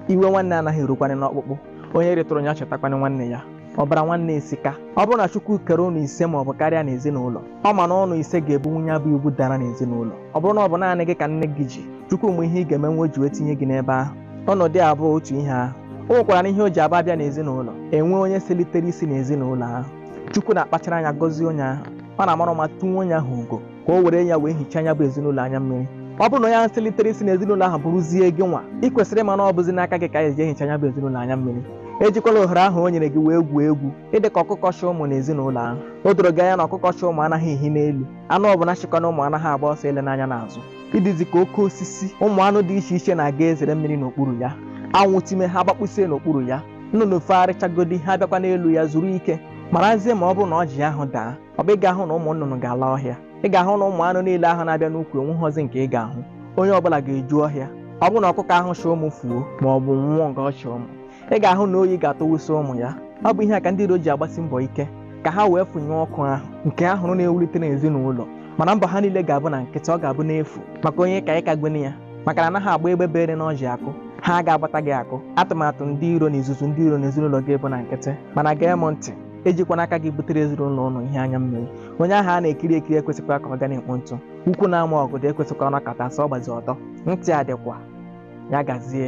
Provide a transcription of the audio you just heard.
iwe nwanne anaghị erukwanị n'ọkpụkpụ onye rịtụrụ ya chetakwanị nwanne ya ọbara nwanne esika ọ bụrụ na chukwu kere ụnụ ise ma ọ bụ karịa n'ezinụlọ ọ ma na ụnụ ise ga-ebunwu ya bụ ibu dara n'ezinụlọ ọ bụrụ na ọ bụ naanị gị ka nne gị ji chukwu ma ihe ị ga-emenwu o ji wee tinye gị n'ebe ahụ ụnụ dị abụọ otu ihe ahụ o nwekwaranụ ihe o ji abụ a bịa n'ezinụlọ e nwee onye selitere isi n'ezinụlọ ahụ chukwu na-akpachara anya gọzie onye ahụ ọ na-amara ụma tunye onye ahụ ugo ka o were ya wee hichaa ya bụ ezinụlọ anya mmiri ọ bụrụ na onye ahụ selitere isi n'ezinụlọ ahụ bụrụzie gị nwa ị kwesịrị ịma na ọ bụzi n'aka gị ka anyị ji ehicha ya bụ ezinụlọ anya mmiri ejikwala ohere ahụ o nyere gị wee gwuo egwu ị dị ka ọkụkọ chị ụmụ n'ezinụlọ ahụ o doro gị anya na ọkụkọ chị ụmụ anaghị ehi n'elu anụ ọbụla chịkwanụ ụmụ anaghị agba ọsọ elena anya n'azụ ị dịzi ka oke osisi ụmụ anụ dị iche iche na-aga ezere mmiri n'okpuru ya anwụ time ha gbakpusie n'okpuru ya nnụnụ fegharịchagodi ha bịakwa n'elu ya zuru ike marazie ma ọ bụrụ na ọjị ahụ daa ọ bụ ị ga-ahụ na ụmụ nnụnụ ga-ala ọhịa ị ga-ahụ na ụmụ anụ niile ahụ na-abịa n'ukwu o nweghọzi nke ị ga-ahụ onye ọbụla ga-eju ọhịa ọ bụrụ na ọkụkọ ahụ chị ụmụ fuo ma ọ bụ nwụọ nga ọ chị ụmụ ị ga-ahụ na oyi ga-atụwụsị ụmụ ya ọ bụ ihe a ka ndị iro ji agbasi mbọ ike ka ha wee fụnyụọ ọkụ ahụ nke ha hụrụ na-enwulite n'ezinụlọ mana mbọ ha niile ga-abụ na nkịtị ọ ga-abụ n'efu maka onye ka ịka gwene ya maka na anaghị agba egbe bere n'ọjị akụ ha agaghị agbata gị akụ atụmatụ ndị iro na izuzu ndị iro n'ezinụlọ gị bụ na nkịtị mana gee m ntị ejikwana aka gị butere ezinụlọ ụnụ ihe anya mmiri onye ahụ a na-ekiri ekiri ekwesịkwa ka ọ ga na-ekpo ntụ ukwu na-ama ọgọdọ ekwesịkwa ọ nọkata sọ ọ gbazie ọtọ ntị a dịkwa ya gazie